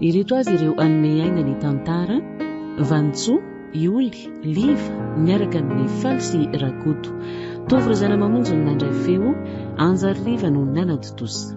Ireto avy ireo hanome aina ny tantara, Vanintsoa, Ioly, Liva, miaraka amin'i Faly sy Rakoto. Tovo ry zana-mamonjy no nandray feo, Anjary Liva no nanatontosa.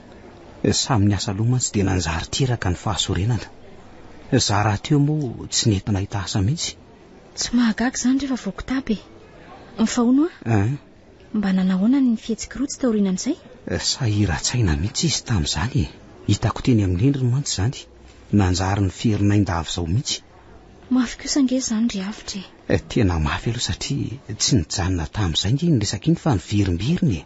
Samy niasa loha mantsy dia nanjary teraka ny fahasorenana. Za rahateo moa tsy nety nahita asa mihitsy. Tsy mahagaga izany rehefa voky tapa e! Fa hono hoa? An? Mba nanahoana ny fihetsik'i Rotsy taorianan'izay? Sahiran-tsaina mihitsy izy tamin'izany e! Hitako teny amin'ny endriny mantsy izany. Nanjary niferinay ndavy izao mihitsy. Mafy kosa ange izany ry Avotra e! Tena mafy aloha satria tsy nijanona tamin'izay ange iny resaka iny fa niverimberina e!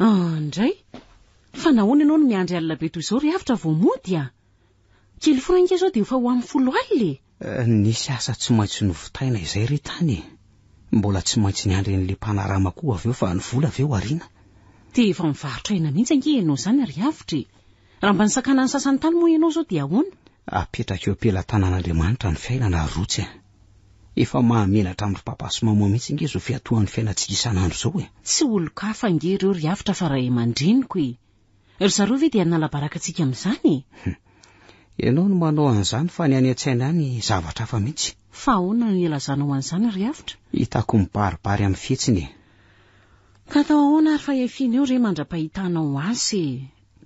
Indray, fa nahoana ianao no miandry alina be toy izao ry Avotra vao mody a? Kely franka izao dia efa ho amin'ny folo alina e! Eh, nisy asa tsy maintsy novitaina izay re tany e! Mbola tsy maintsy niandry an'ilay mpanarama koa avy eo fa ny vola ve ho ariana? Dia efa mivarotra aina mihitsy ange ianao izany ry Avotra e! Raha mba nisakana ny sasany tany moa ianao izao dia ahoana? Apetraka eo am-pelatanan'Andriamanitra ny fiainana ry Rotsy a! Efa mahamenatra andro papa sy maman mihitsy ange izao fiatohan'ny fiainantsika isan'andro izao e! Tsy olon-kafa ange ireo ry Avotra fa ray aman-dreniko e! Ry zareo ve dia hanala-baraka antsika amin'izany e! Hum. Ianao no manao an'izany fa ny any an-tsaina any zavatra hafa mihitsy. Fa ahoana no ilazanao an'izany ry Avotra? Hitako mibaribary amin'ny fihetsiny e! Ka atao ahoana ary fa efiana eo re mandra-pahitanao azy e!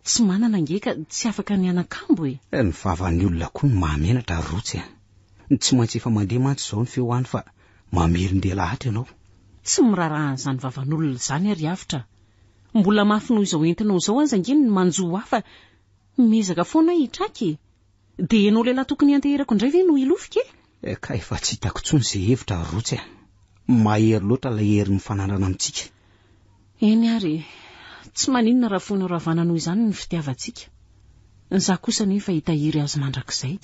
Tsy manana ange ka tsy afaka ny hanakambo e! Eh, ny vavan'ny olona koa no mahamenatra ry Rotsy a! Tsy maintsy efa mandeha mantsy izao ny feo any fa mamerin-dia lahatra ianao. Tsy miraharaha an'izany vavan'olona izany aho ry Avotra a! Mbola mafy noho izao entinao izao aza ange ny manjo ho ahy fa miezaka foana aho hitraka e! Dia ianao lehilahy tokony hianteherako indray ve no hilofika e? Eh kay efa tsy hitako intsony izay hevitra ry Rotsy a! Mahery loatra ilay hery nifanandrana amintsika. Eny ary e! Tsy maninona raha foinao ravana noho izany ny fitiavantsika. Ny za kosa anie efa hitahiry azy mandrakizay.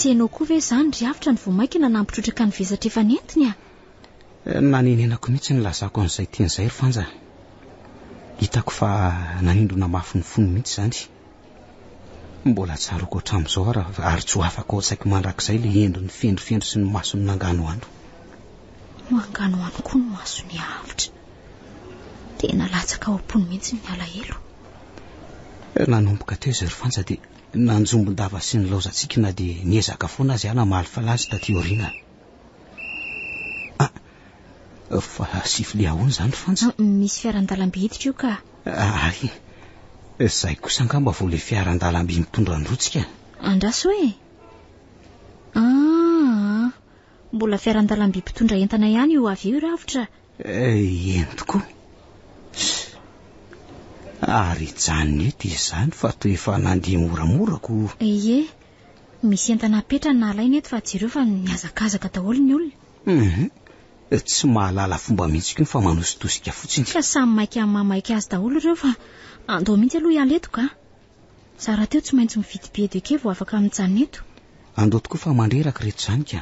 tsy enao koa ve izany ry avotra ny vomaikina nampitrotraka ny vesatra efa nentiny a eh, nanenenako mihitsy ny lazako an'izay tian'izay ry fanja hitako fa nanindrona mafy ny fony mihitsy izany Mbola tsaroako hatramin'izao ary, ary tsoafako ao an-tsaiko mandrakizay ilay endriny fendrofendro sy ny masony nanganohano. Manganohano koa ny masony avotra. Tena latsaka ao am-pony mihitsy ny alahelo. Nanomboka teo izay ry Fanja dia nanjombon-dava sy nilaozan-tsiky na dia niezaka foana aza aho namaly flash taty aoriana. Ah, fa sifle ahoana izany fantsy? Ah, misy fiaran-dalamby hiditra io ka. Ay, izay kosa angamba vao ilay fiaran-dalamby mitondra an-drotsika. Andraso e. Ah, mbola fiaran-dalamby mpitondra entana ihany io avy io ravotra. Eh, eny tokoa. Ary hijanona eto izany fa toa efa nandeha moramora ko. Ie. Misy entana apetrany na alainy eto fa jereo fa mihazakazaka daholo ny olona. Hum, tsy mahalala fomba mihitsy koa fa manositosika fotsiny. Ka samy maika mamaika azy daholo ireo fa andao mihitsy aloha hiala eto ka. Za rahateo tsy maintsy mividy billet de quai vao afaka mijanona eto. Andao tokoa fa mandreraka ireto izany ka.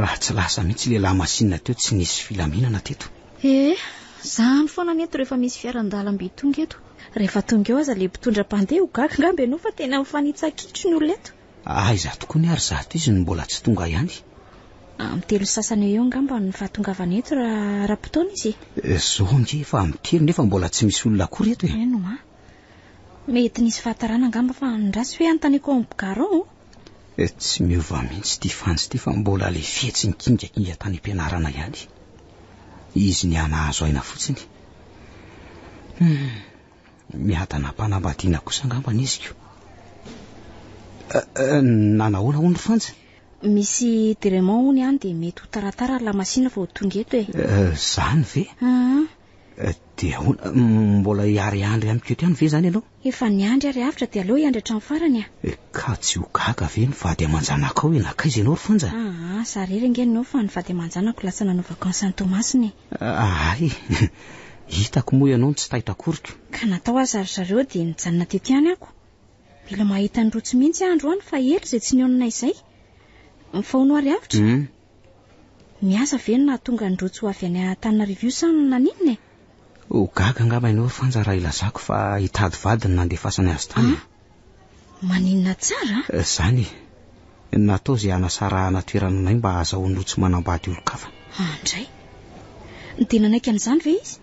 Raha tsy lasa mihitsy ilay lamasinina teo tsy nisy filaminana teto. Ee, zany foana ny eto rehefa misy fiaran-dalamby tonga eto. Rehefa tonga eo aza ilay mpitondra mpandeha ho gaga angamba ianao fa tena mifanitsa-kitro ny olona eto. Aiza tokoa ny ary zato izy no mbola tsy tonga ihany? Amin'ny telo sy sasany eo eo angamba ny fahatongavany eto raha ara-potoana izy e. Zao ange efa amin'ny telo nefa mbola tsy misy olona akory eto e. Eny hoa. Mety nisy fahatarana angamba fa ny ratsy hoe anontaniako ao amin'ny Bgarao. Eh, tsy miova mihitsy ity fanjy ity fa mbola le fihetsiny kingakinga tany am-pianarana ihany. Izy ny anahazo aina fotsiny. Hmm, miadana am-panambadiana kosa angamba ny iziko. Eh, eh, nanahoana ho ny fanjy? Misy direment ho ny any dia mety ho taratara ny lamasina vao tonga eto e. Eh, zany ve? Ah. Eh, dia ahoana, mbola hiary andry amiko eto ihany ve zany ianao? Efa niandry ary avotra dia aleo hiandry hatramin'ny farany a! Eh, ka tsy ho gaga ve ny vady aman-janakao e? Nankaiza ianao ry Fanja? Aa, za irery ange no eo fa ny vady aman-janako lasa nanao vakansy any Toamasina e! Ahay e! Hitako moa ianao no tsy taitra akoriko. Ka na tao aza ry zareo dia nijanona teto ihany ako. Mila mahita an'i Rotsy mihitsy aho androany fa ela izay tsy nionona izay. Mifaono ary avotra? Hum, Ny asa ve no nahatonga an'i Rojo avy any Antananarivo io sa naninona e? Ho gaga angamba ianao Fanja raha ilazako fa hitady vady no nandefasany azy tany e. Ah? Maninona tsara a? Eh, zany e. Natao izay hanasarahana toerana anay mba hahazahoan'i Rojo manambady olon-kafa. An-dray. Dia nanaiky an'izany ve izy?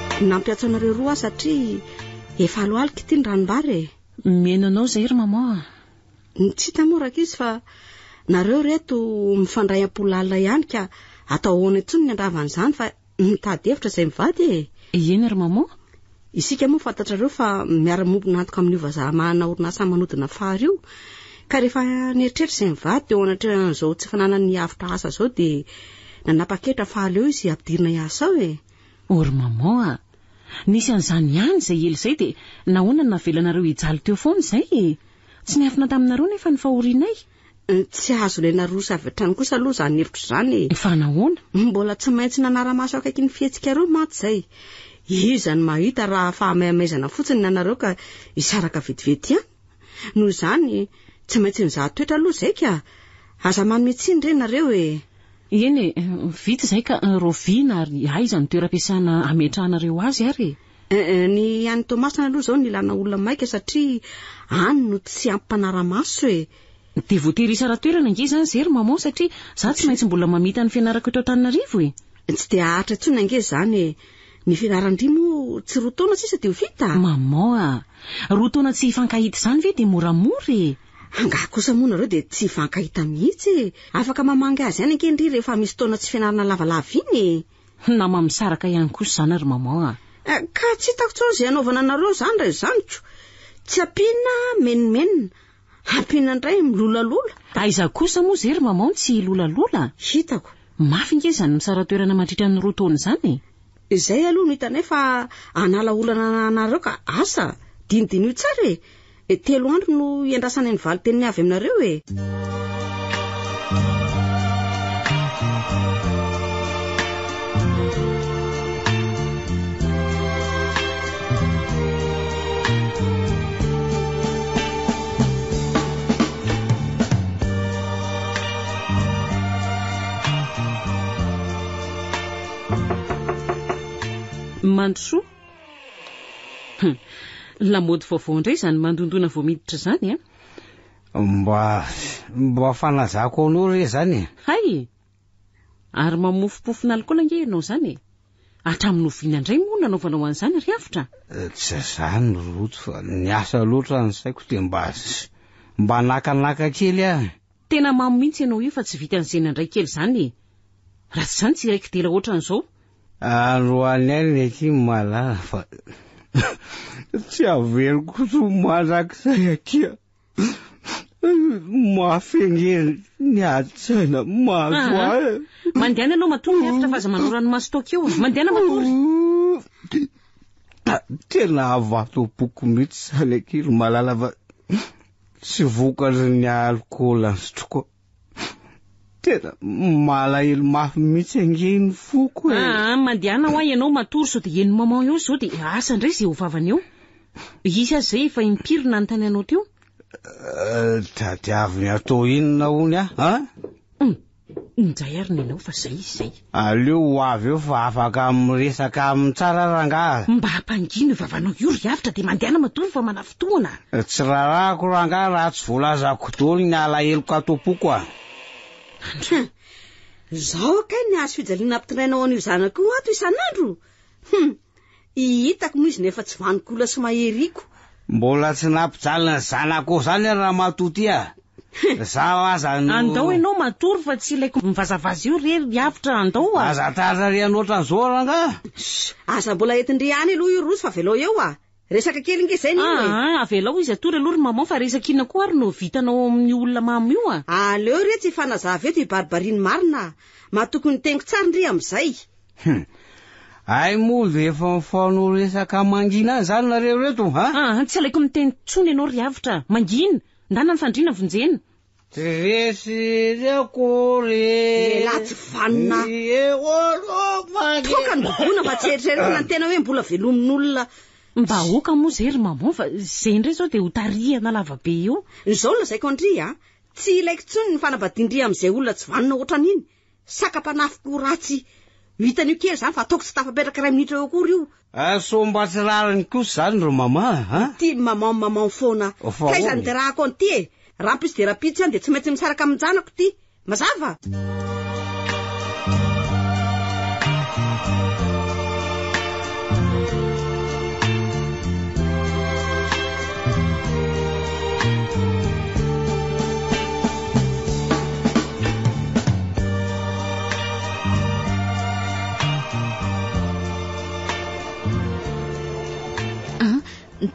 Nampiantso anareo roa aho satria efa alohalika ity ny ranombary e. Mihaino anao izay ry maman a. Ny tsy hita moa rankizy fa nareo ry eto mifandray am-po lalina ihany ka atao ahoana intsony ny handrava an'izany fa mitady hevitra izay mivady e. Eny ry maman. Isika moa fantatrareo fa miara-miombona antoka amin'io vazaha manana orinasa manodina fary io ka rehefa nieritreritra izay mivady teo anatrehan'izao tsy fananany havotra asa izao dia nanapa-kevitra fa aleo izy ampidirina hiasa ao e. Or maman a! Nisy an'izany ihany izay ela izay dia nahoana no navelanareo hijaly teo foana izay e! Tsy niafina taminareo nefa ny fahorianay. Tsy azo ilaina roso avy hatrany kosa aloha izany hevitro izany e! Fa nahoana? Mbola tsy maintsy nanara-maso akaiky ny fihetsikareo mantsy izay. Iza no mahita raha fahamaimaizana fotsiny ny anareo ka hisaraka vetivety ihany? Noho izany, tsy maintsy nizaha toetra aloha izay ka! Aza manome tsiny re nareo e! Eny e! Vita izay ka! Raoviana ary aiza ny toeram-piasana hametrahanareo azy ary e? Ny any Toamasina aloha izao nilana olona maika satria any no tsy ampy mpanara-maso e! Dia voatery hisara-toerana ange izany izay ry Maman satria izaho tsy maintsy mbola mamita ny fianarako eto Antananarivo e! Tsy dia haharitra intsony ange izany e! Ny fianaran-dry moa tsy roa taona sisa dia ho vita? Maman a! Roa taona tsy hifankahita izany ve dia moramora e! Angaha kosa moa nareo dia tsy hifankahita mihitsy e! Afaka mamangy azy ihany ange ndry rehefa misy taona tsy fianarana lavalava iny e! Nama misaraka ihany kosa izany ry maman a! Eh, ka tsy hitako intsony izay hanaovana anareo izany raha izany ko! Tsy ampiana, menomenona, Ampiana indray ny milolalola. Aiza kosa moa ze ry Mamao ny tsy hilolalola? Hitako. Mafy nge izany misara-toerana mandritra ny roa taona izany e! Izay aloha no hitanay fa hanala olana anareo ka asa dinidiniho tsara e! E telo andro no hiandrasana ny valin-teniny avy aminareo e! mandrosoa hmm. lamody vaovao indray izany mandondona vao miditra izany a eh? mba mba fanazako anao re zany e hay Ary mamofopofon'alikaola ange ianao izany e! Hatramin'ny oviana indray moa no nanaovanao an'izany ry Avotra? Tsy izany ry Rojo fa niasa loatra ny saiko dia mba mba nakanaka kely aho. Tena mamo mihitsy ianao io fa tsy vitan'ny zena indray kely izany e! Raha tsy izany tsy hiray kidera ohatran'izao. Androany alina ity ny malala fa tsy haveriko kosa ho mandrakizay akia. Mahafegneno ny adin-tsaina mahazo ah, ahy. Mandehana ianao matory ny efitra fa aza manao ranomaso toa keo. Mandehana matory. Tena avato boko mihitsy izany ankiry malala fa tsy vokatry ny alikaola ny sotroiko. Tena malahelo mafy mihitsy ange ny foko e. Ah, ah mandehana hoa ianao matory sao dia eny maman eo izao dia asa indray izay ho vavany eo. Hisy aza izay efa impiry nanontany anao teo. Euh, tadiaviny atao inona hono ah? Hum, injay ary ny anao fa izay izy izay. Aleo ho avy eo fa afaka miresaka aminy tsara rangaha. Mba hampangino io vavanao io ry Avotra dia mandehana matory fa manafintohina. Tsy rarahako rangaha raha tsy voalazako daholo ny alaheloko ato am-poko a. Hum. Zao kay ny hazo fijaliana ampitondraina ho an'io zanako io ato isan'andro. Hum! I hitako moa izy nefa tsy vanon-kola sy maheriko. Mbola tsy nampijalin'ny zanako ao zany ary ramatoa ty ah! Zaho aza no. Andao ianao matory fa tsy ilaiko mivazavaza io re ry avotra, andao ah! Aza tarary an'ohatran'izao rangah! Shh! Aza mbola entin-dry any aloha io roso fa avelao eo ah! Resaka kely nge zay nino e! Aa avelao izy atory aloha ry maman fa resaka inona koa ary no vitanao ao amin'ny olona mamo io a! Aleo re tsy hifanazava eto i Barbarie ny marina a! Matoky ny teniko tsara ndry amin'izay! Hum. Ay moa ve efa mifono resaka mangina any zany nareo reto ha? Aa tsy alaiko miteny tsony ianao ry avotra a! Mangina! Ndana ny fandriana vonjena! Resy ry akory Lehilahy tsy vanona Ie olo magne Toaka ny gogona mba tsy eritreretina ny tena hoe mbola velomin'olona ny vahoaka moa zay ry maman fa zay indray zao dia ho tarihana lavabe eo. Ny zao no lazaiko an-dry a! Tsy ilaiko intsony ny fanambadian-dry amin'izay olona tsy vanona ohatran'iny. Saka mpanafiko ratsy no hitan'io kely zany fa ataoko tsy tafapetraka iray minitra eo akory io. Ah sao mba tsy rariny kosa zany ry mama a? Ity maman maman foana. Fa Taiza ahoana e? nderahako an'ity e? Rampitso dia rampitso ihany dia tsy maintsy misaraka amin'ny janako ity. Mazava?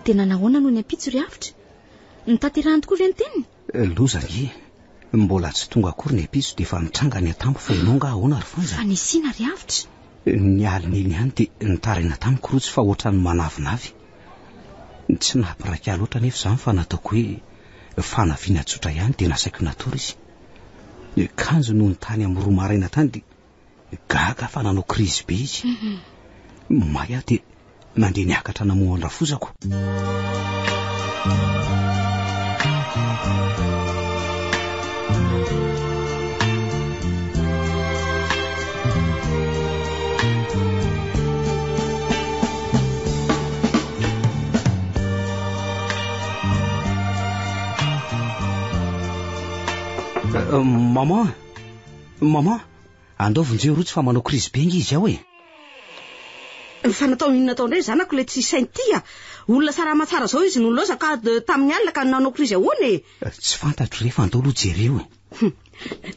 tena nahoana noho ny ampitso ry avitra ny tanterahany tokoa ve ny teniny eh, loza nge mbola tsy tonga akory ny ampitso dia efa mitranga ny atambo fa ianao nga ahoana ry fanja fa nisina ry avitra eh, ny alina iny ihany dia nitaraina tamiko rotsy fa ohatran'ny manavinavy tsy nampiraika loatra nefa izany fa nataoko hoe Fanafihana tsotra ihany dia nasaiko natory izy. Ny kanjony nony tany amin'ny roa maraina tany dia gaga fa nanao krizy be izy. May aho dia nandeha niakatra namoha an-drafozako. Maman, maman, andao vonjeo rotsy fa manao krizy benga izy ao e. Ny fanatao inona atao indray zanako ilay tsy saint tia. Ah. Olona sarama tsara zao izy no loza ka de tamin'ny alina ka nanao krizy ahoana e. Eh, tsy fantatro rehefa andao aloha jereo e. Hm.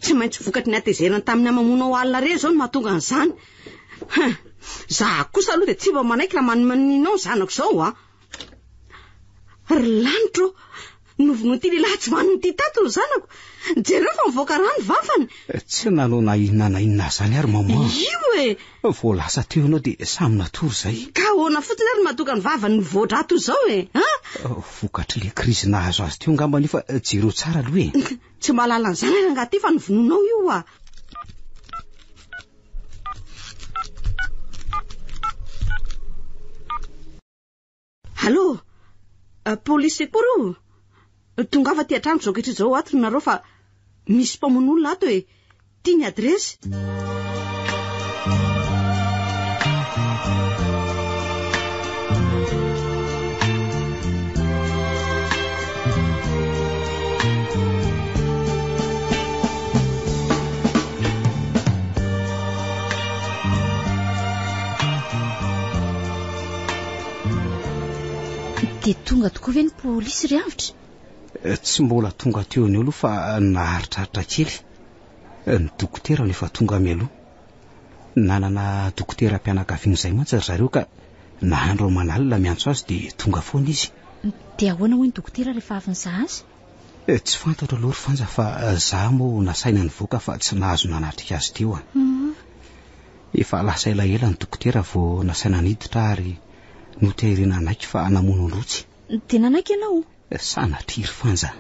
Tsy maintsy vokatry ny atezerany tamin'ny amamonao alina re zao no mahatonga an'izany. Hm. Za kosa aloha de tsy mba manaiky raha manomaninao zanako zao ah. Ry lanitra ô, novonoin'ity lehilahy tsy vanony ity tato ny zanako. Jereo fa mivoaka rà ny vavany. Eh, tsy nanao na inona na inona izany ary mama. Io e. Vao lasa teo ianao dia samy natory izay. Ka ahoana fotsiny ary matoka ny vavany ny voadra toy izao e. Eh, vokatr'ilay krizy nahazo azy teo angamba io fa jereo tsara aloha e. Tsy mba lalan'ny zanany angaha ty fa ny vonoinao io oa. Allô? Euh, police akory io? Tongava aty an-trano izao ankehitriny izao ato ry nareo fa misy mpamono olona ato e. Ity ny dia tonga tokoa ve ny polisy ry avitra eh, tsy mbola tonga teo ny eo aloha fa naharitraritra kely Ny dokotera no efa tonga mialoha. Nanana dokoteram-pianakaviana izay mantsy ry zareo ka nahandro aman'alina miantso azy dia tonga foana izy. Dia ahoana hoy ny dokotera rehefa avy nizaha azy? Tsy fantatro aloha ry Fanja fa za moa nasaina nivoaka fa tsy nahazo nanatrika azy teo an. Efa lasa elaela ny dokotera vao nasaina niditra ary notehirinan'aiky fa namono ny rotsy. Dia nanaiky ianao? Sanatria ry Fanja,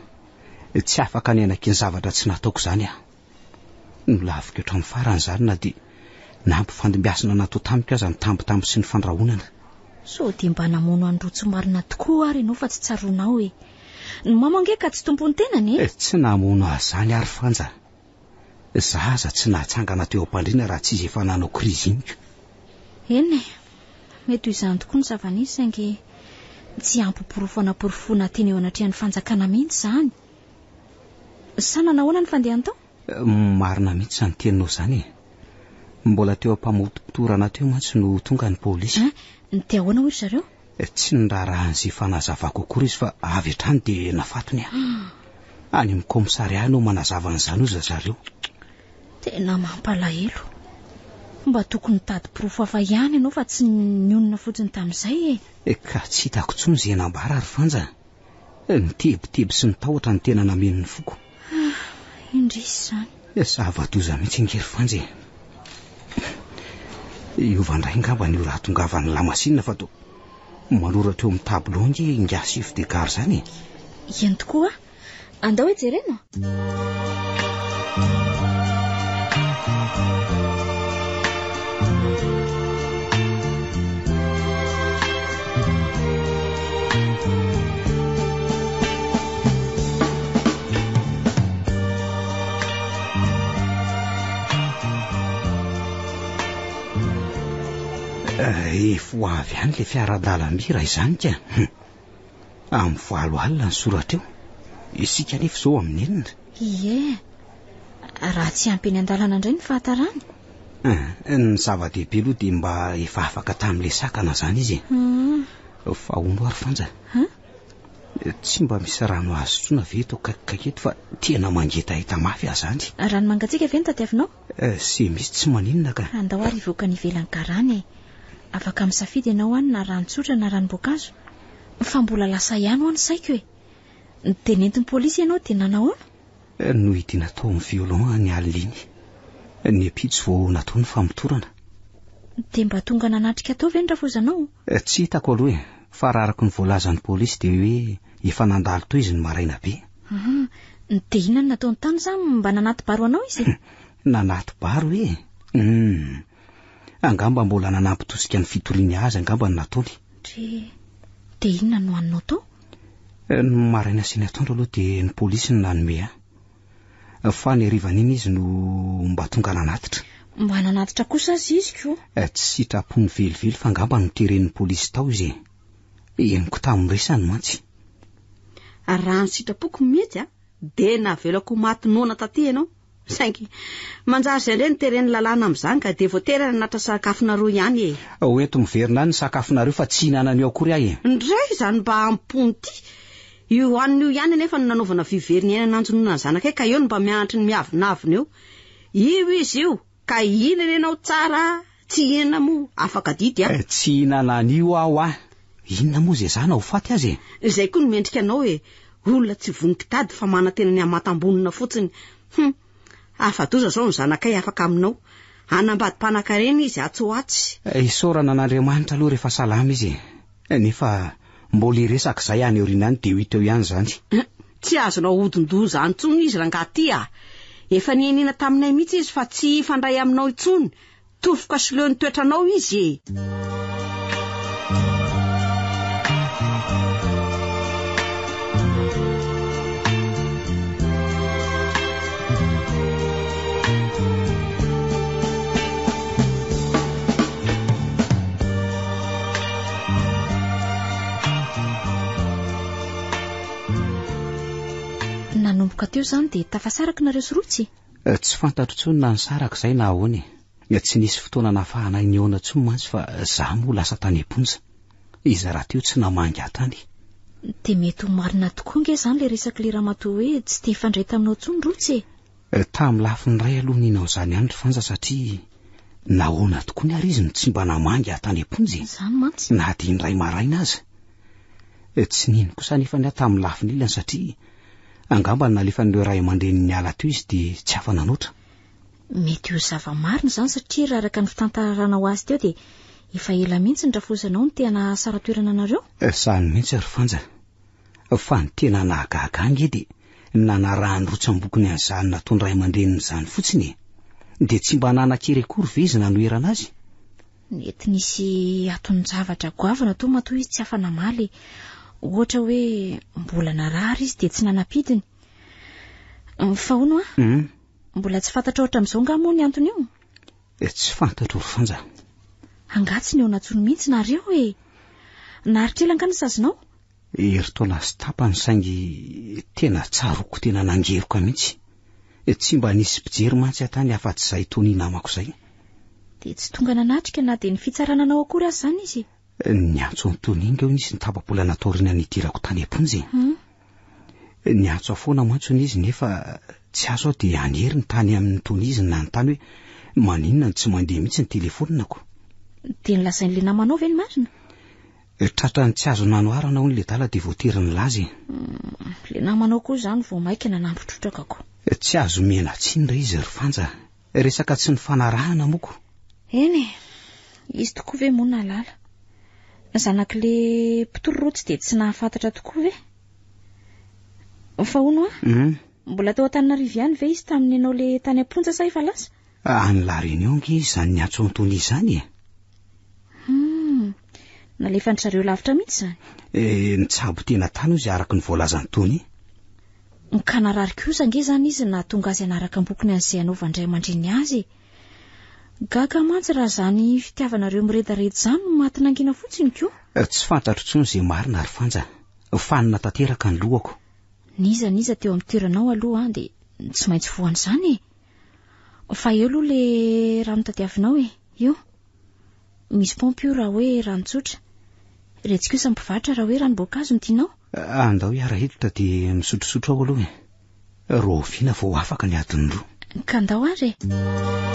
tsy afaka ny hanaky ny zavatra tsy nataoko izany aho. Nolaviko hatramin'ny farany izany na dia nampifandimbiasina natao tamiko aza ny tambitamby sy ny fandrahonana. Sao dia mba namono an'i Roa tsy marina tokoa ary ianao fa tsy tsaroanao e. Ny mamo ange ka tsy tompon'ny tenany e! Tsy namono ahy izany aho ry Fanja. Za aza tsy nahatsangana teo am-pandriana raha tsy izy efa nanao krizy iny ka. Eny e, mety ho izany tokoa ny zava-nisy saingy tsy ampy porofo hanaporofoana teny eo anatrehan'ny fanjakana mihitsy izany. Sa nanahoana ny fandehany tao? Marina mihitsy izany teninao izany e. Mbola teo am-pamotopotorana teo mantsy no tonga ny polisy. Dia ahoana hoy ry zareo? Tsy niraharaha an'izay fanazavako akory izy fa avy hatrany dia nafatony ahy. Any amin'ny kaomisarià no manazava an'izany hoy zareo. Tena mampalahelo. Mba tokony hitady porofo hafa ihany ianao fa tsy nionona fotsiny tamin'izay e. Ka tsy hitako intsony izay nambara ry Fanja. Ny tebiteby sy ny tahotra no tena nameno ny foko. Ah, indrisy izany. Eh, zava-doza mihitsy ange ry Fanja e. Hiova indray ngamba ny raha tongavan'ny lamasinina fa toa manoratra eo amin'ny tableau ange ingahy chef de gare izany e. Eny tokoa, Andao e jerena. Eh, efa ho avy any le fiara-dalamby raha izany ka. Amin'ny valo alina ny soratra eo. Isika anefa izao amin'ny enina. Ie, raha tsy ampy eny an-dalana indray ny fahatarany. Eh, ny zava-dehibe aloha dia mba efa afaka tamin'ilay sakana izany izy. Hmm. Fa hono ary Fanja. Hum? Tsy mba misy rano azo sotroina ve eto akaikikaiky eto fa tena mangetaheta mafy aho izany. Rano mangatsiaka ve no tadiavinao? Sy misy tsy maninona ka. Andao ary hivoaka any ivelan'ny karana e! Afaka misafidy ianao any na rano tsotra na ranom-boankazo. Fa mbola lasa ihany hoa ny saiko e! Dia nentin'ny polisy ianao dia nanahoana? Nohidiana tao amin'ny violon ny alina iny. Ny ampitso vao natao ny famotorana. Dia mba tonga nanatrika tao ve ny rafozanao? Tsy hitako aloha e! Fa raha araka ny voalazan'ny polisy dia hoe efa nandalo tohizo ny maraina be. Ah, dia inona no nataony tany izany? Mba nanaty baro anao izy? Nanaty baro e. Hmm. Angamba mbola nanampitosika ny fitoriany azy angamba no nataony. Dre, dia inona no haninao tao? Eh, ny maraina sy ny atoandro aloha dia ny polisy no nanome ahy. Eh, fa ny harivan'iny izy no mba tonga nanatitra. Mba nanatitra kosa azy izy ko. Eh, tsy sitrapony velively fa angamba noteren'ny polisy tao izy e. henoko tamin'ny resany mantsy. Ary raha ny sitrapoko mihitsy a, dia navelako ho maty noana taty ianao. Saingy manjary izay indray no teren'ny lalàna amin'izany ka dia voatery hananatra sakafonareo ihany e. Ho ento miverina any ny sakafonareo fa tsy hihinana an'io akory aho e. Ndray izany mba am-pony ity. Io hanina io ihany anefa no nanaovana vy very niaina nanjonoana ny zanakay ka eo no mba mianatry ny miavonavona eo. Io izy io! Ka inona ny anao tsara a? Tsy hihinana moa, afaka adidy a! Eh, tsy hihinana an'io aho a! Inona moa izay zany, ho faty aza e! Izay koa no mendrika anao e! Olona tsy vonon-kitady fa manantena ny hamantam-bonona fotsiny. Hum! Afa-doza izao ny zanakay afaka aminao. Hanambady mpanankarena izy atsy ho atsy. Isaorana an'Andriamanitra aloha rehefa salama izy e! Nefa mbola hiresaka izay any aoriana any dia ho hita eo ihany izany. Tsy azonao ahodin-doha izany intsony izy rangaha ity a! Efa niheniana taminay mihitsy izy fa tsy hifandray aminao intsony, tofoka sy leo ny toetranao izy e! nanomboka teo izany dia tafasaraka nareo sy rotsy eh, tsy fantatro intsony na nisaraka izay na ahoana e eh, tsy nisy fotoana nafahanay nihaona intsony mantsy fa za moa lasa tany am-ponja iza raha teo tsy namangy ahy tany dia mety ho marina tokoa nge izany le resak'ilay ramatoa hoe tsy te hifandray taminao intsony rotsy e Tamin'ny lafiny iray aloha nino an'izany ihany ry Fanja satria nahoana tokoa ny ary izy no tsy mba namangy ahy tany am-ponja e? Izany mantsy. Na dia indray maraina aza. Tsy nino kosa anefa ny ahy tamin'ny lafiny ilany satria angamba nalefan'ireo ray aman-dreniny niala teo izy dia tsy afa-nanoatra. Mety ho zava-marina izany satria raha araka ny fitantaranao azy teo dia efa ela mihitsy ny rafozanao no te-hanahasara toerana anareo? Sahy mihitsy ry Fanja. Fa ny tena nahagaga ahy nge dia ny nanarahan'ny rotsam-bokony an'izany nataon'ny ray aman-dreniny izany fotsiny e! Dia tsy mba nanan-kery akory ve izy nanoherana azy? Nety nisy atonon-javatra goavana tao matoa izy tsy afa-namaly, ohatra hoe mbola narary izy dia tsy nanam-pidiny. Fa hono an? Mbola tsy fantatrao hatramin'izao angaha moa ny anton'io? Dia tsy fantatro ry Fonja. Angaha tsy nihaona intsony mihitsy nareo e! Naharitra ela angaha ny sazinao? Herintaona sy tapany saingy tena tsaroako tena nangeroka mihitsy. Tsy mba nisy mpijery mantsy aho tany afa-tsy izahay Tony namako izay. Dia tsy tonga nanatrika na dia ny fitsarana anao akory aza izany izy e! Niantso an'i Tony Inga hono izy ny tapa-bolana taoriana ny hidirako tany am-ponja e. Hmm? Niantso aho foana mantsy hono izy nefa tsy azo aho dia any heriny tany amin'ny Tony izy nanontany hoe maninona no tsy mandeha mihitsy ny telefoninako. Dia nilazain'ilay namanao ve ny marina? Eh, Tratrany tsy azo nanoharana hono ilay dala dia voatery nilaza e. Hmm, ilay namanao koa izany vao mainka nanambotrotraka ko. Eh, tsy azo miana tsiny re izy ry Fanja. Resaka tsy nifanarahana moa ko. Eny e, izy tokoa ve moa nalala? Ny zanak'le mpitororotsy dia tsy nahafantatra tokoa ve? Fa hono a, Hum. mbola tao Antananarivo ihany ve izy tamin'ny nanao le tany am-ponja sa efa lasa? Any La Réunion nge izy izany niantsoantony izany e. Hum. Nalefan-dry zareo lavitra mihitsy izany. Eh, nitsabo tena tany hoy izay araka ny voalazan'i Tony. Ka narary kosa ange izany izy nahatonga azy hanaraka am-pokony an'izay hanaovan-dray aman-dreny azy e. Gaga mantsy raha izany fitiavanareo miredareda izany no maty nangina fotsiny koa. Eh, tsy fantatro intsony izay marina ry Fanja. Fanina tanteraka ny lohako. N'iza n'iza teo amin'ny toeranao aloha dia tsy maintsy voan'izany e. Fa eo aloha le raha notadiavinao e, io. Misy paompy io raha hoe rano tsotra. Retsy kosa ny mpivarotra raha hoe ranom-boankazo no tianao. Andao hiara hiditra dia misotrosotro aho aloha e. Rahoviana vao afaka ny adiny roa? Ka andao ary e.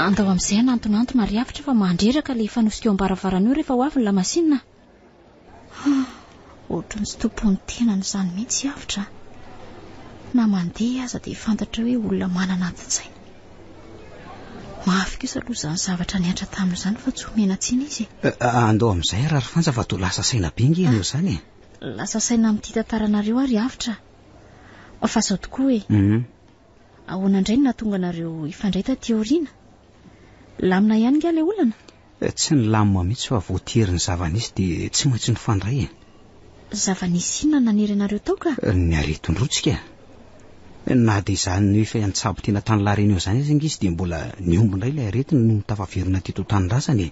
Andao amin'izay hanantonantona ary hafatra fa mandreraka ilay fanosika eo am-baravarana eo rehefa ho avy ny lamasinina. Ah, ohatran'ny tsy tompon'ny tenany izany mihitsy hafatra. Na mandeha aza dia fantatra hoe olona manana adin-tsaina. Mafy kosa aloha izany zavatra niantra tamin'izany fa tsy omena tsiny izy. Eh, andao amin'izay Rarifanja fa toa lasa saina be nge ianao izany e. Lasa saina amin'ity tantaranareo ary avotra a. Fa zao tokoa e. Hum. Ahoana indray no nahatonga anareo hifandray taty aoriana? Lamina ihany nga ilay olana? Eh, tsy nilamina mihitsy fa voatery ny zava-nisy dia tsy maintsy nifandray e. Zava-nisy inona no nanery anareo tao ka? Eh, ny aretin-drotsika. Eh, na dia izany no efa an-tsabo tena tany La Réunion izany aza nga izy dia mbola nihombo indray ilay aretina noho ny tafaverina teto an-tanindrazana e.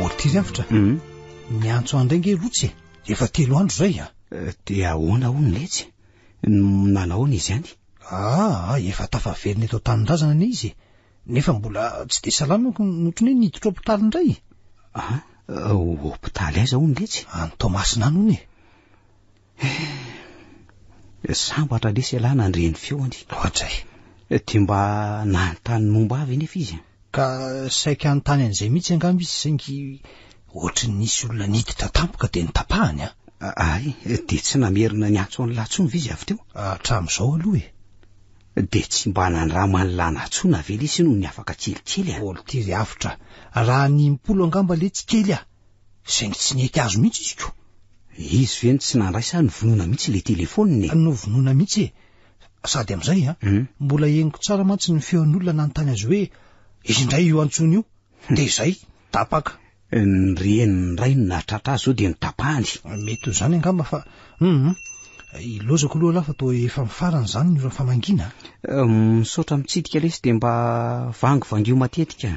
Ôrty zay fitra Ny antso andray nge lotsy e Efa telo andro zay a eh, Dia ahoana ho ny letsy Nanao ny izany Ah, efa tafaverina eto an-tanindrazana ny izy Nefa mbola tsy dia salama ko Notrony hoe niditra hôpitaly indray Ah, hôpitaly aiza ho ny letsy Any Toamasina any hono e Eh, sambatra lesy ialahy nandre ny feony. Ohatr'izay. Eh, dia mba nanontany momba ahy ve nefa izy? Ka saika hanontany an'izay mihitsy angamba izy saingy ohatry ny nisy olona niditra tampoka dia nitapahany an. Ay, dia tsy namerina niantso an'i Latsony ve izy avy teo? Hatramin'izao aloha e. Dia tsy mba nandrama an'i Lanatsona ve lesy noho ny afaka kelikely an? Olon-tiry avotra, raha ny impolo angamba le tsy kely an. saingy tsy nety azo mihitsy izy ko. Izy ve no tsy nandray sa novonoina mihitsy ilay telefoniny e? Novonoina mihitsy e! Sady amin'izay an, mbola henoko tsara mantsy ny feon'olona nanontany azy hoe izy indray io antsoiny io. Dia izay, tapaka. Ny renin'ny indray no nahatratra azy sao dia notapahany. Mety ho izany angamba fa hum! Ilaozako aloha lah fa toa efa mifarana izany ny ora famangiana a! Misaotra mitsidika lesy dia mba vangivangio matetika.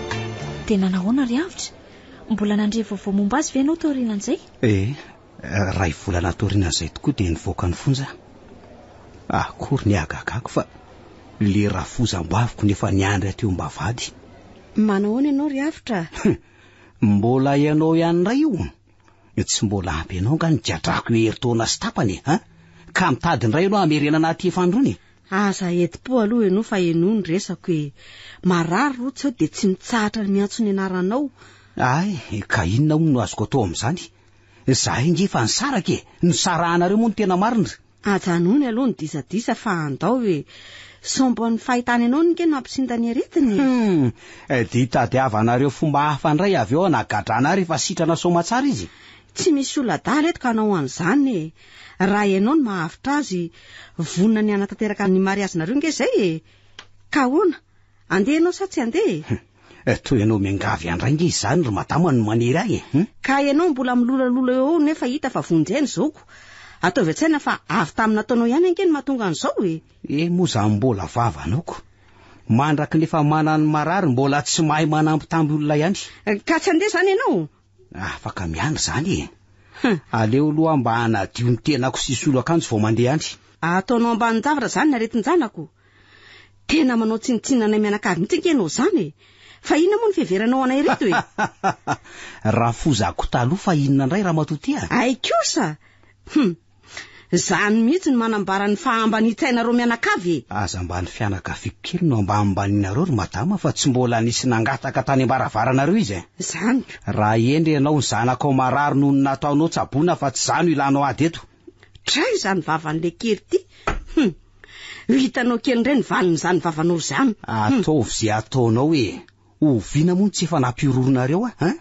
Dia nanahoana ry Avotra? Mbola nandre vaovao momba azy ve ianao taorianan'izay? Ee, iray volana taorianan'izay tokoa dia nivoaka ny fonja aho. Akory ny hagagako fa ilay rafozam-baviko no efa niandry aty ho mba vady. Manahoana ianao ry Avotra? Mbola ianao ihany indray io? Tsy mbola ampy anao nga ny gadrako herintaona sy tapany e, an? Ka mitady indray ianao hamerenana aty efanrony e. Aza hedim-po aloha ianao fa henoy ny resako e. Marary ry Rotsy aho dia tsy mitsahatra ny miantso ny anaranao. Ay, ka inona hono no azoko atao amin'izany? Izahay ange efa nisaraka e. Nisarahanareo moa ny tena marina. Ajanony aloha ny disadisa fa andao e! Sombo ny fahitany anao ny key no hampisinta ny aretiny e! Hum! Dia tadiavanareo fomba hafa indray avy eo hanagadrana ahy rehefa sitrana soamatsara izy e! Tsy misy olona adala eto ka hanao an'izany e! Raha ianao no mahavitra azy, vonona ny hanatanteraka ny mariazinareo ange izay e! Ka ahoana? Andeha ianao sa tsy andeha e? Eh, toa ianao miangavy an-dray nge izany ry madama no manery ahy eh. Hum? Ka ianao mbola milolalola eo nefa hita fa vonjy ahy ny zaoko. Ataovy an-tsaina fa avy tamin'ny nataonao ihany ange no mahatonga an'izao eh. Eh, moa izany mbola vava anao ko. Mandraky ny efa manan'ny marary mbola tsy mahay manambitamby olona ihany. Ka tsy handeha izany ianao? Afaka miandry zany e! Aleo aloha aho mba hanadio ny tenako sy hisolo akanjo vao mandeha any. Ataonao ambanin-javatra zany ny aretin-janako? Tena manao tsinontsinona anay mianakavy mihitsy ange ianao zany e! Fa inona moa ny fiheveranao anay ireto e! Rafozako taloha fa inona indray Ramatoa Tia? Hay kosa! Hum! Zany mihitsy no manambara ny fahambanian-tsainareo mianakavy e! Aza mba ny fianakaviako kely no ambanimbanianareo ry madama fa tsy mbola nisy nangataka tany ambaravaranareo izy e! Zany ka! Raha hendry ianao ny zanakao marary noho ny nataonao tsaboina fa tsy za no hilanao ady eto! Dray izany vavan'ilay kely ity! Hum! Ho hitanao kely indray ny valin'izany vavanao izany! Ataovy izay ataonao e! Oviana moa no tsy efa nampihorohoroanareo ahy an!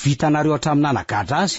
Vitanareo hatramin'ny nanagadra azy!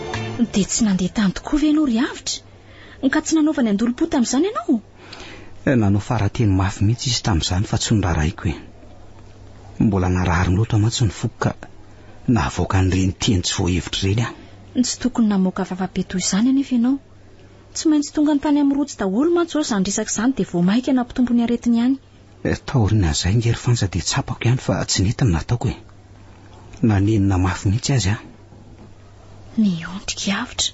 Dia tsy nandeha tany tokoa ve ianao ry Avotra? Ka tsy nanaovany andolom-po tamin'izany ianao? Eh, nanao fara-teny mafy mihitsy izy tamin'izany fa tsy noraraiko e. Mbola narary loatra mantsy ny foko ka nahavoaka an'ireny teny tsy voahevitra ireny aho. Tsy tokony namoaka vava be toy izany anefa ianao. Tsy maintsy tonga tany amin'ny rojo daholo mantsy izao izany resaka izany dia vao mainka nampitombo ny aretiny ihany. Taorin'izay nge ry Fanja dia tsapako ihany fa tsy nety ny nataoko e. Nanenina mafy mihitsy azy aho. Miondrika avotra.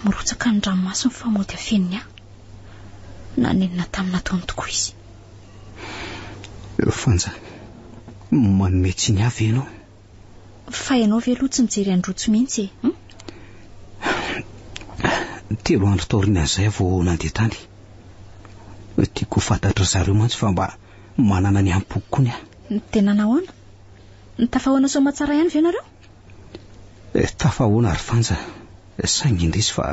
Mirotsaka ny ranomaso mifamody afeniny ahy. Nanenina tamin'ny nataony tokoa izy. Fanja, manome tsiny ahy ve ianao? Fa ianao ve aloha tsy mijery an'i Rojo mihitsy e? Hum? Telo andro taorian'izay vao nandeha tany. Tiako ho fantatry zareo mantsy fa mba manana ny am-poko koa ny ahy. Dia nanahoana? Tafahoana soamatsara ihany ve ianareo? Eh, tafahoana ry Fanja, saingy indrisy fa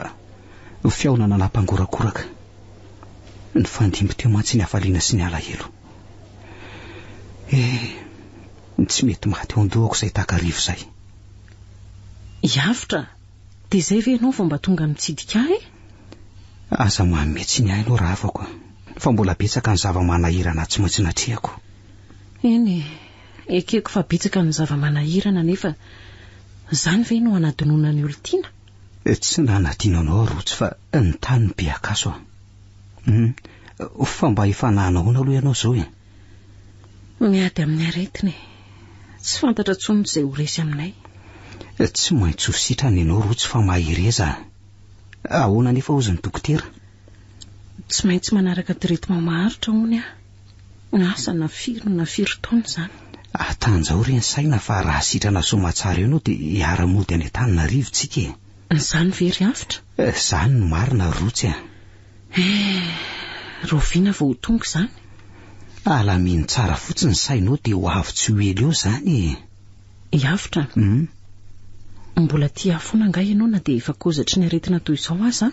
fihaonana nampangorakoraka. Nifandimby teo mantsy ny hafaliana sy ny alahelo. Eh, Ny tsy mety maty eo an-dohako izay takariva izay. I Avotra, dia izay ve ianao vao mba tonga mitsidika ahy? Aza manome tsiny ahy ianao ravako fa mbola betsaka ny zava-manahirana tsy maintsy natrehako. Eny e, ekeko fa betsaka ny zava-manahirana nefa izany ve no hanadinoana ny olon-tiana? Tsy nanadino anao aho Rotsy fa ny tany no be akaso a. Humm, fa mba efa nanao ahoana aloha ianao izao e? Miady amin'ny aretina e. Tsy fantatra intsony izay ho resy aminay. Tsy maintsy ho sitrana ianao Rotsy fa mahereza a. Ahoana anefa hozy ny dokotera? Tsy maintsy manaraka traitement maharitra hono aho. Na asa na firy na firy taona izany. Atanjaho re ny saina fa raha sitrana soamatsara eo ianao dia hiara-mody any Antananarivo tsika e. Izany ve ry Avotra? Izany no marina ry Rotsy a. Eh, rahoviana vao ho tonga izany? Alamino tsara fotsiny ny sainao dia ho avy tsy ho ela eo izany e. Hiavotra? Hum. Mbola tia ahy foana angaha ianao na dia efa kozatry ny aretina toy izao aza an?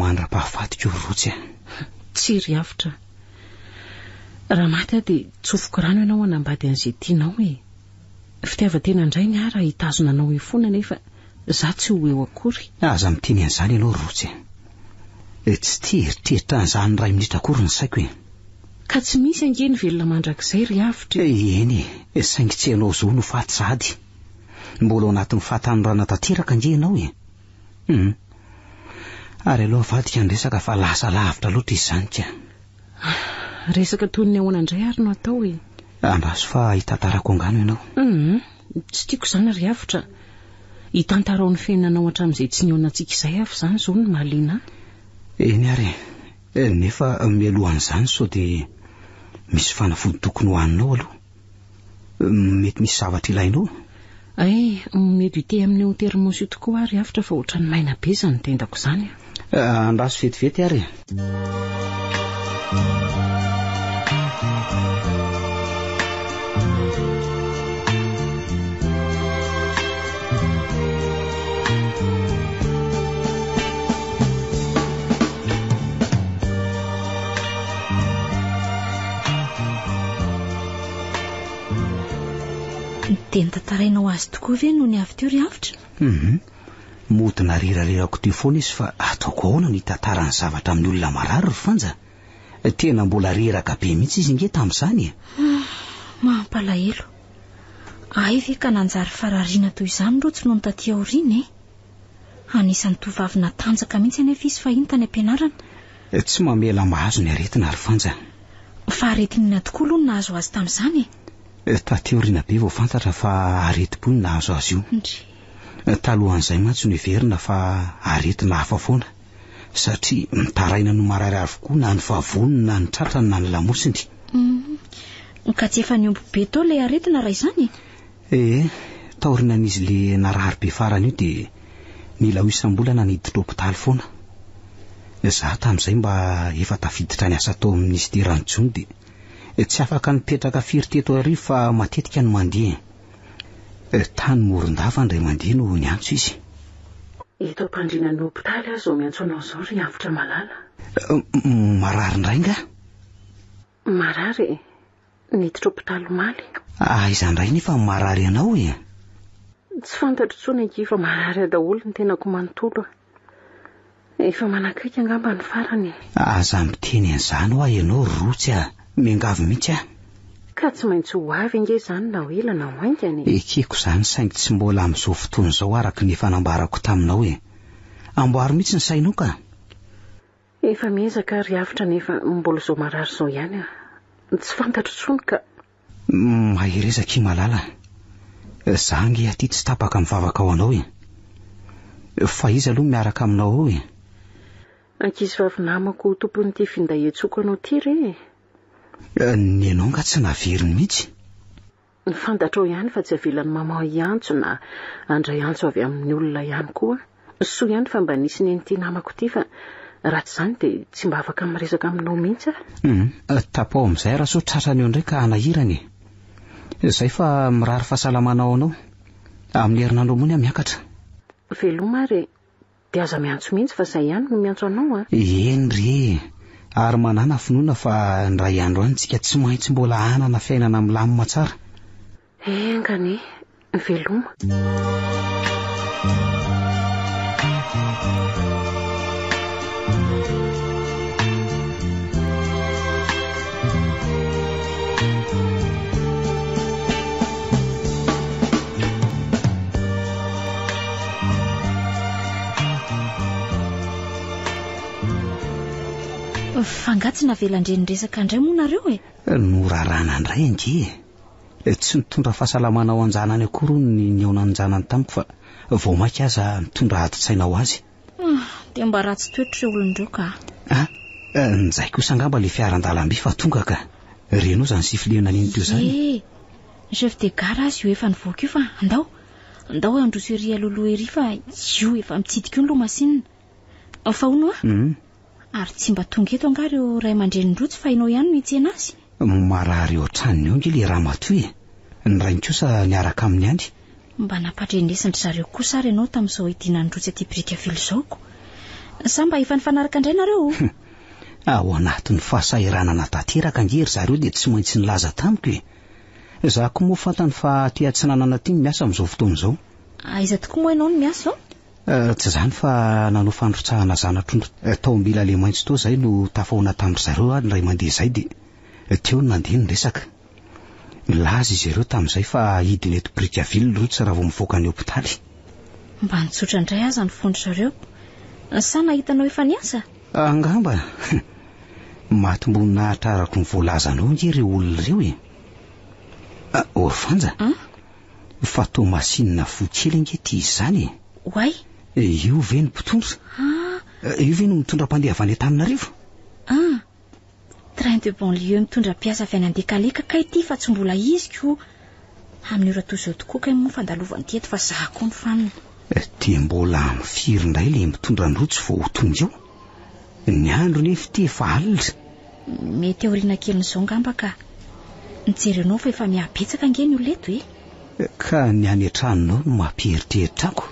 Mandra-pahafatiko ry Rotsy a. Tsia ry avotra. Raha maty aho dia tsofiko rano ianao hanambady an'izay tianao e. Fitiavan-tena indray ny ahy raha hitazona anao eo foana nefa Za tsy ho eo akory. Aza miteny an'izany ianao ry Rotsy e! Tsy tia eritreritra an'izany iray minitra akory ny saiko e! Ka tsy misy ange ny velona mandrakizay ry Avotra e! Eny e, saingy tsy ianao zo no faty sahady. Mbola ao anatin'ny fahatanorana tanteraka ange ianao e! Hum. Ary aleo avadika ny resaka fa lasa lavitra loatra izy izany ka. Resaka toy ny ahoana indray ary no atao e! Andraso fa hitantarako angano ianao. Hum. Tsy tiako izany ry avotra. Itantarao ny fiainanao hatramin'izay tsy nihaonantsika izay ary izany izao no mahaliana ahy. Eny ary e, nefa mialohan'izany sao dia misy fanafody tokony ho haninao aloha. Mety misy zavatra ilainao? Hay, mety ho ity amin'ny eo an-terimôsy io tokoa aho ry avotra fa ohatran'ny maina be izany tendako izany an! Andraso vetivety ary Dia nitantarainao azy tokoa ve nony avy teo ry Avotra? Mhm. Mody narirariarako teo foana izy fa ataoko ahoana ny hitantara ny zavatra amin'ny olona marary ry Fanja? Tena mbola reraka be mihitsy izy nge tamin'izany e! Mampalahelo. Ahy ve ka nanjary farariana toy izany Rotsy nony taty aoriana e! Anisan'ny tovovavy natanjaka mihitsy anefa izy fahiny tany am-pianarana. Tsy mamela mahazo ny aretina ry Fanja. Faharitinina tokoa aloha no nahazo azy tamin'izany e! Taty aoriana be vao fantatra fa aretim-po no nahazo azy io. Talohan'izay mantsy no heverina fa aretina hafa foana satria mitaraina no marary avokoa na ny vavony na ny tratrany na ny lamosiny. Uhm. Ka tsy efa niombo be tao ilay aretina raha izany e? Ee, taorinan'izy le narary be farany io dia nila ho isam-bolana niditra hopitaly foana. Izaho tamin'izay mba efa tafiditra niasa tao amin'ny minisiteran'ny Jono dia tsy afaka nipetraka firy teto arivo fa matetika no mandeha e. Eh, tany Morondava indray mandeha no niantso izy. Eto am-pandriana ny hopitaly aho izao miantso anao izao ry Avotra malala. Eh, marary indray nga? Marary e, niditra hopitaly omaly. Aiza indray nefa no marary anao e? Tsy fantatro intsony akia fa marary daholo ny tenako manontolo a. Efa manakaiky angamba ny farany e! Aza miteny an'izany hoa ianao Rotsy a! Miangavy mihitsy aho. Ka tsy maintsy ho avy ange izany na ho ela na ho haingana e! Ekeko izany saingy tsy mbola amin'izao fotoana izao araka ny efa nambarako taminao e! Amboaro mihitsy ny sainao ka! Efa miezaka ary avotra nefa mbola izao marary izao ihany aho. Tsy fantatro intsony ka! Mahereza akia malala a. Za ange aty tsy tapaka mivavaka ho anao e. Fa iza aloha miaraka aminao ao e? Ankizivavy namako ho tompon'ity finday iantsoako anao ity re e. Ny anao nga tsy naveriny mihitsy? Fantatrao ihany fa tsy avelan'i maman hiantso na handray antso avy amin'ny olona ihany koa. Soa ihany fa mba nisy nen'ity namako ity fa raha tsy izany dia tsy mba afaka miresaka aminao mihitsy aho. Humm, tapaho amin'izay raha sao tratrany eo indray ka hanahirana e. Izay fa mirary fahasalamana ho anao. Amin'ny herinandro ambony aho miakatra. Veloma ary e. Dia aza miantso mihitsy fa izay ihany no miantso anao a. Eny re e. Ary manàna finoana fa indray andro any isika tsy maintsy mbola hanana fiainana milamina tsara. Enga anie, veloma. Fa angaha tsy navelan-dReniresaka indray moa nareo e? Norarana indray ange e! Tsy nitondra fahasalamana ho an-janany akory hono ny nihaonan'janany tamiko fa vao maika aza nitondra adin-tsaina ho azy. Dia mba ratsy toetra ireo olon-dreo ka. Ah, njay kosa angamba ilay fiara an-dalamby fa tonga ka. Reno izany sifflet naliny teo izany. Ye! Ny chef de gare aza io efa nivoaka io fa andao, andao handroso ery aloha loha ery fa io efa mitsidika io ny loha masinina. Fa hono a, hmm? ary tsy mba tonga eto angaha ireo ray aman-drenin'i Rojo fa ianao ihany no hitsena azy? Marary eo an-tranony eo ange le ramatoa e. Ny rainy kosa miaraka aminy any. Mba nampandrenesin-dry zareo kosa ary ianao tamin'izao hidinan'i Rojo aty biriky avily izao ko. Sa mba efa nifanaraka indray nareo o? Hmm. Ao anatin'ny fahasahiranana tanteraka ange ry zareo dia tsy maintsy nilaza tamiko e. Za ko moa fantany fa aty atsinanana aty no miasa amin'izao fotoana izao. Aiza tokoa moa ianao no miasa ao? Tsy izany fa nanao fandrotsahana zana-trondro tao Ambila le maitso tao izay no tafahoana tamin-dry zareo ary indray mandeha izay dia teo no nandeha ny resaka. Nilaza izy ireo tamin'izay fa hidina eto Brickaville ny rotsy raha vao mivoaka ny hopitaly. Mba nitsotra indray aza ny fon-dry zareo. Sa nahita anao efa niasa? Angamba. Mahatomboninahitra araka ny voalazanao ange ireo olona ireo e. Orvanja? Fa toa masinina voa kely ange ity izy izany e! Oay! Io ve no mpitondra? Ah! Io ve no mitondra mpandeha avy any Antananarivo? Ah! Train de banlieue mitondra mpiasa avy any Andekaleka kay ity fa tsy mbola izy ko! Amin'ny ora toy izao tokoa kay moa fandalovany eto fa za koa ny fanina. Dia mbola amin'ny firy indray ilay mitondra ny rojo vao ho tonga eo? Ny andro nefa ity efa alina. Mety aoriana kelin'izao ngamba ka. Ny jerenao fa efa mihabetsaka ange ny olona eto e! Ka ny any an-tranonao no mampieritreritra ako.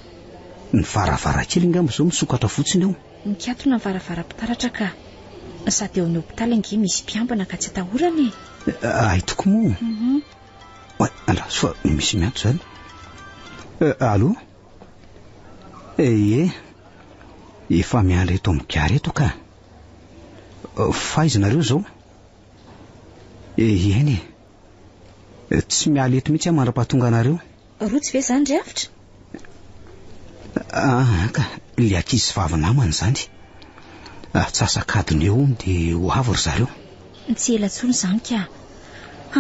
Ny varavarakely ngamba izao misokatra fotsiny ao. Mikatona ny varavaram-pitaratra ka. Sady eo amin'ny hopitaly ange misy mpiambina ka tsy atahorana e! Hay tokoa moa. Oay, andraso fa misy miantso izany. Allo? Ehe, efa miandry eto amin'ny gare eto ka. Faiza nareo zao? Eheny e. Tsy miala eto mihitsy aho mandra-pahatonga anareo. Rotsy ve izany ry Avotra? Ah, ka, le ankizy vavy namany izany. Atsasak'adiny eo hono dia ho avy ry zareo. Tsy ela intsony izany ka.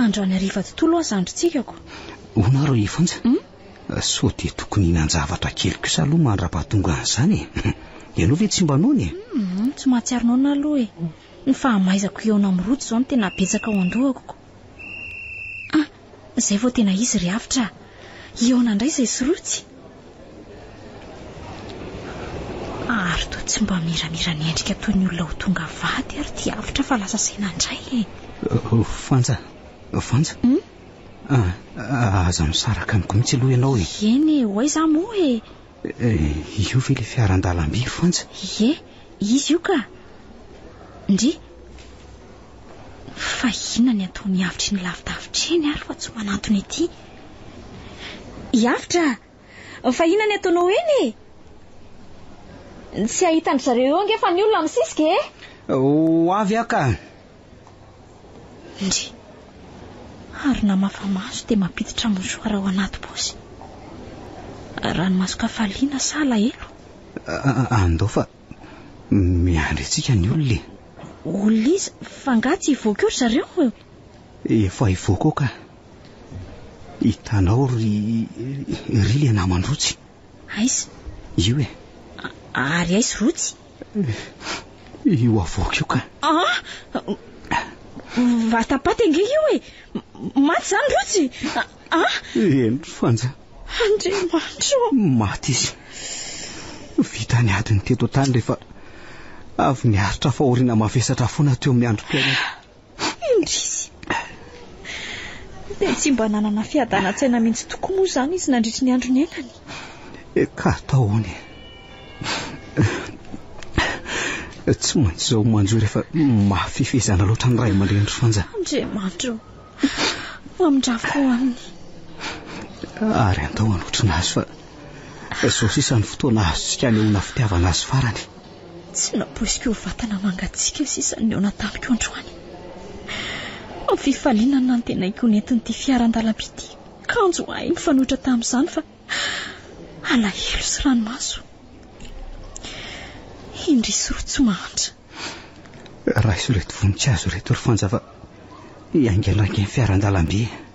Andro any hariva tontolo aza androntsika ko. Hono ary ry Fonja? Sao dia tokony hihinan-javatra kely kosa aloha mandra-pahatonga an'izany e. Ianao ve tsy mba noana e? Humm, tsy mahatsiaro noana aho aloha e. Ny fahamaizako hihaona amin'ny rojo izao no tena betsaka ao an-dohako ko. Ah, izay vao tena izy ry Avotra a! Hihaona indray izay sy rojo. Ary toa tsy mba miramira ny endrika toy ny olona ho tonga vady ary ity Avotra fa lasa saina indray e. Vanja, Vanja. Humm, Ah, aza misaraka amiko mihitsy aloha ianao e. Eny e, ho aiza moa e? Eh, io ve le fiara an-dalamby ry Fanja? Ie, izy io ka. Ndry. Fa inona ny ataony avitry ny lavidavitra eny ary fa tsy manantona ety? Iavitra, fa inona ny ataonao eny e? Tsy hahita an-dry zareo eo ange fa ny olona misisika e? Ho avy aho ka. Ndry. Ary namafa maso dia mampiditra mouchoir ao anaty paosy. Ranomason-kafaliana sa alahelo? Andao fa miandry antsika ny olona e. Olona iza? F'angaha tsy hivoaka eo ry zareo e? Efa hivoaka ao ka. Hitanao ry ry le naman-drotsy. Aiza? Io e. Ary aiza rotsy? Io avoaka io ka. Ah! Vatapaty ange io e. Maty zany Rotsy. Ah! Eny ry Fanja. Andriamanitro. Maty izy. Vita ny adiny teto an-tany rehefa avy niaritra faorina mavesatra foana teo amin'ny androm-piainana. Indrisy! Dia tsy mba nanana fiadanan-tsaina mihitsy tokoa moa izany izy nandritry ny andro niainany? Eka ataony e! Tsy maintsy izao manjo rehefa mafy fifehezana loatra ny ray aman-dreny ry Fanja. Andriamanitra o! Mamindrafo ho aminy. Ary andao hanotrona azy fa izao sisa ny fotoana azontsika anehoana fitiavana azy farany. Tsy nampoiziko ho vatana mangatsiaka sisa ny nihaona tamiko androany. Amin'ny fifaliana no nantenaiko ho nentin'ity fiara an-dalamby ity kanjo ahy nifanohitra tamin'izany fa alahelo sy ranomaso. Indry sy roa tsy mahantra. Raiso ireto voninkazo ireto ry Fanja fa hiaingandrainga ny fiara an-dalamby.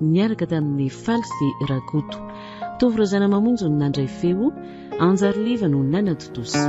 niaraka tamin'i Faly sy Rakoto. Tovo Razanamamonjy no nandray feo, Anjary Liva no nanatontosa.